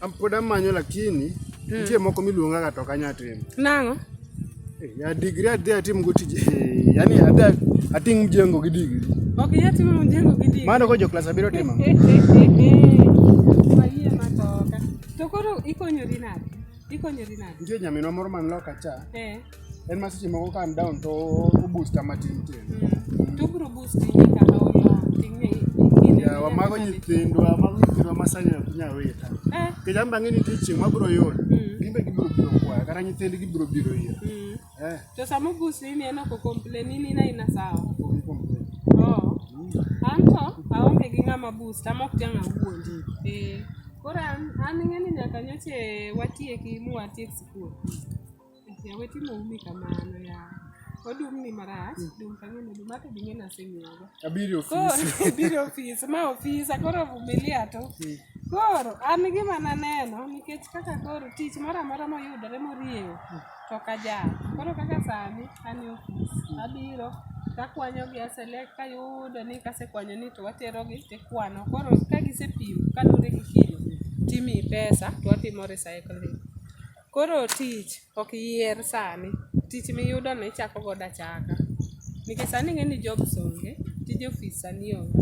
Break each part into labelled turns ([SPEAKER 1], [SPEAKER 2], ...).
[SPEAKER 1] Am pod amanyo lakini
[SPEAKER 2] nitie moko miluonga ga to kanya timo. Nang'o?
[SPEAKER 1] Eh, Ya
[SPEAKER 2] digri adhi atim go tije. eh, Yaani adhi ating mjengo gi digri. Ok inyal timo mjengo
[SPEAKER 1] gi digri. Mano ko jo klas abiro timo.
[SPEAKER 2] Wayie matoka.
[SPEAKER 1] To koro ikonyori nade? Ikonyori nade?
[SPEAKER 2] Nitie nyaminwa moro man loka cha. Eh. en ma seche moko calm down to obusta matin tin mm. tugru busti
[SPEAKER 1] nyaka olo ting'e ya wamago
[SPEAKER 2] nyithindwa mago nyithindwa ma sani ok nya wita eh. kech an bang'e nitie chieng' mabiro yudo mm. gin be gibiro biro kwaya kata nyithindgi gibiro biro ira mm. eh. to sama
[SPEAKER 1] obusti ni en ok okomplain in in aina sawa oh. anto aonge gi ng'ama busta mok jang' awuondi eh. koro an ing'e ni nyaka nyoche watieki muwatiek sikul Ya wetin oumi kamano ya. Odum ni marach, dum kanyo ni dum hata bingine asenyoga. Abiri Koro ofisi. abiro ofis, ma ofisa koro vumilia tu. Koro an gima naneno nikech kaka koro tich moro amora moyudore morieyo to ok ajal. Koro kaka sani an e ofis, abiro takwanyogi aselect kayudo ni kasekwanyo ni to waterogi tikwano. Koro ka gisepim kaluwore gi kilo timiyi pesa to watimo recycling. Koro tich ok yier sani, tich miyudo no ichako godo achaka. Nikech sani ing'e ni jobs onge, tij ofis sani onge.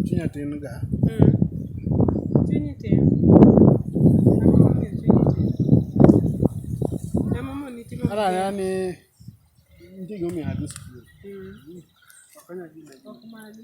[SPEAKER 1] Chunya
[SPEAKER 2] tin ga.
[SPEAKER 1] Mm. Chunyi tin. Ang'o momiyo chunyi tin? Ang'o momiyo itimo Ara maber? ya ni
[SPEAKER 2] ntigo mi adu skul. Mm. Okonya gi Ok magi.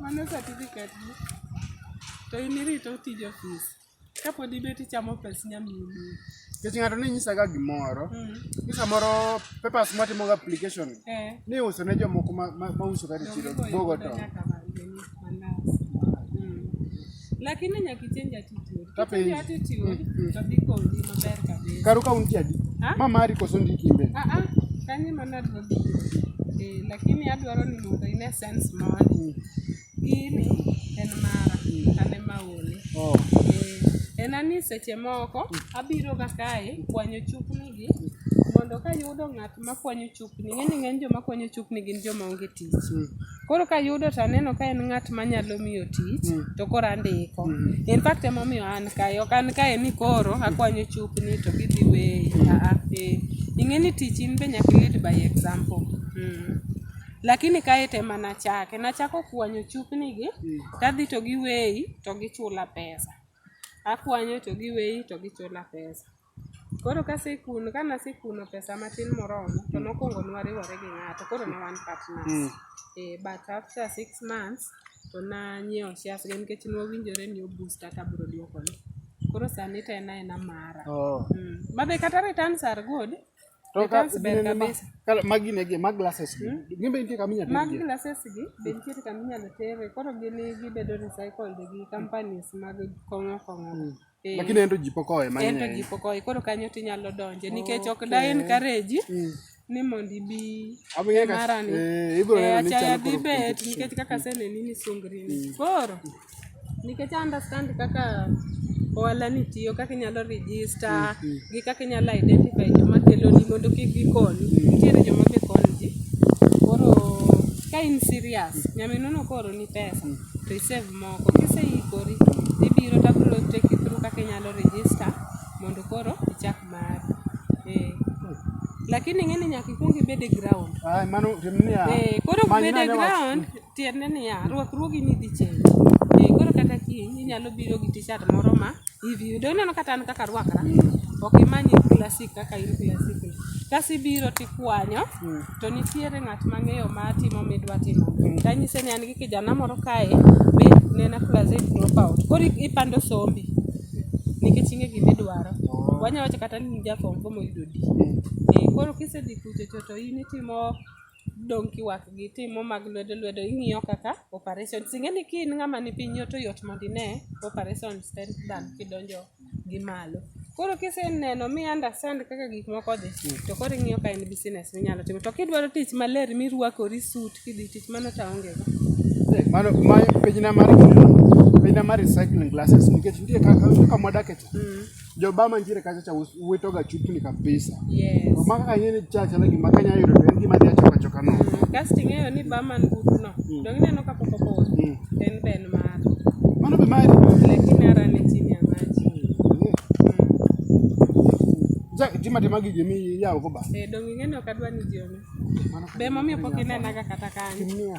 [SPEAKER 1] Mano certificate ni. To in irito tij ofis. Kapod ibet ichamo pes nyaminu. Nikech ng'ato ne
[SPEAKER 2] nyisaga gimoro, Mm. ni samoro papers matimoga application Eh. ni iuso ne jomoko ma- ma- mausoga e chiro Donge bogo boyudo to. nyaka ma- mandas.
[SPEAKER 1] Lakini nyaka ichenj attitude. Kichenj attitude mm. to dhi konyi maber kabisa. Karo ka untie adi?
[SPEAKER 2] Ma mari koso ndiki imbe? Ah ah. Kanyo mana
[SPEAKER 1] adwaro eh, lakini adwaro ni mondo ine sense moro. Mm. Gini en mara, mm. an ema ole. Oh. Eh, en ani seche moko abiro ga kae kwanyo chupni gi mondo kayudo ng'at makwanyo chupni, ng'eni ng'eny joma kwanyo chupni gin joma onge tich. Koro ka yudo to aneno ka en ng'at manyalo miyo tich mm. to koro andiko. Mm. In fact emomiyo an kae, ok an kae ni koro akwanyo chupni to gidhi weyi. Mm. Aa, ah, ah, eh. Ing'e ni tich in be nyaka lead by example. Mm. Lakini kae te mana chake, nachako kwanyo chupni gi, mm. tadhi to giweyi to gichula pesa. Akwanyo to giweyi to gichula pesa. Koro kasekuno, kane asekuno pesa matin moromo, to nokwongo ne wariwore gi ng'ato, koro ne wan partners. Mm. Eh, but after six months, to nanyiewo shares ge nikech ne wawinjore ni oboost kaka abiro duokone. Koro sani to en aena mara. Oh. Mm. Ma be kata returns are good. To ka Returns ber ginene ma- kabisa. ka- magi ne gi- ma
[SPEAKER 2] glasses gi. Gin be nitie kama inyalo Mag tergie? glasses gi
[SPEAKER 1] be nitiere kama inyalo tere, koro gini gibedo recycled gi companies mag kong'o kong'o. Eh. Lakini
[SPEAKER 2] ento ji pok owe mang'eny. Ento ji pok owe, koro kanyo
[SPEAKER 1] tinyalo donje nikech ok da encourage mm. ni mondo ibi marani. Eh, ibiro neno ni eh, chalo koro. bet nikech kaka aseneni ni sungri ni. Mm. Koro nikech I understand kaka ohala ni tiyo, kaka inyalo register mm, gi kaka inyalo identify joma keloni mondo kik gikonyi. Nitiere joma be konyo ji. Koro ka in serious, nyaminono koro ni pesa to isave moko. Kiseikori tibiro tabro take you through kaka inyalo register mondo koro ichak mari. Eh. Lakini ing'e ni nyaka ikwong ibed e ground. Ay, mano tim niya.
[SPEAKER 2] Eh, koro many bede nade wach.
[SPEAKER 1] ground tiende niya rwakruogi ni dhi change. Eh, koro kata kiny inyalo biro gi t-shirt moro ma hivi yudo ineno kata an kaka rwakra ok imany klasik kaka in klasik kasi biro tikwanyo to nitiere ng'at mang'eyo ma timo midwa timo tanyise ni an gi kijana moro kae be nena klasik dropout koro i- ipando sombi nikech ing'e gima idwaro wanya wacho kata ni in ja form four moyudo D Eh, koro kisedhi kuchocho to in itimo dong' kiwak gi timo mag lwedo lwedo ing'iyo kaka operations. Ing'eni ka in ng'ama ni piny yot to yot mondo ine operations te than kidonjo gi malo. Koro kiseneno mi understand kaka gik moko dhi to koro ing'iyo ka en business minyalo timo. To kidwaro tich maler mirwakori suit kidhi tich mano to aonge go. Mano ma
[SPEAKER 2] pejna mar pejna mar recycling glasses nikech nitie kaka kama wadakie cha. joba mantiere kacha cha wito ga chupni kabisa yes to maka kanye
[SPEAKER 1] ni cha
[SPEAKER 2] cha lagi maka nyayo to en gima dia choka choka no mm. gas tingeyo ni ba
[SPEAKER 1] man gudu no mm. dong neno ka poko poko mm. en ben mar mano be mari
[SPEAKER 2] lakini ara ni
[SPEAKER 1] chini ya maji
[SPEAKER 2] ja tima tima gi jemi ya ko ba e eh, dong ngeno kadwa
[SPEAKER 1] ni jemi be mami pokine naga kata kanyo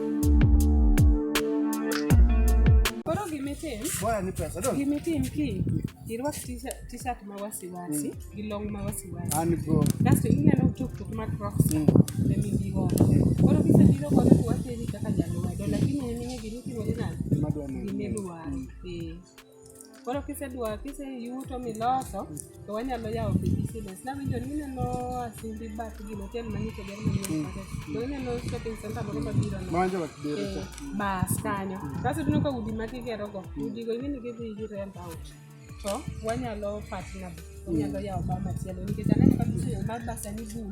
[SPEAKER 2] Koro gimitim, Bora ni pesa do. gimitim ki
[SPEAKER 1] irwak t-shirt- t-shirt ma wasiwasi gi long ma wasiwasi. An go. Kasto
[SPEAKER 2] ineno
[SPEAKER 1] tuktuk ma Crocs Mm. e migi godo. Koro kisebiro godo to wateri kaka jalwedo lakini en ing'e gima itimore nade? Madwa ni. Gima idwaro. Eh. Koro kisedwa kiseyuto miloso to wanyalo yawo pi business. Nawinjo ni ineno Asimbi Bat gino hotel manyiso ber manyien kata. To ineno shopping center moro mabiro no. Manja wa kibere Eh, cha.
[SPEAKER 2] bas kanyo
[SPEAKER 1] kaso tineno ka udi ma kigerogo udigo ing'e ni gidhi gi rent out to wanyalo partner wanyalo yawo bar machielo nikech aneno ka biseyo mar basani boom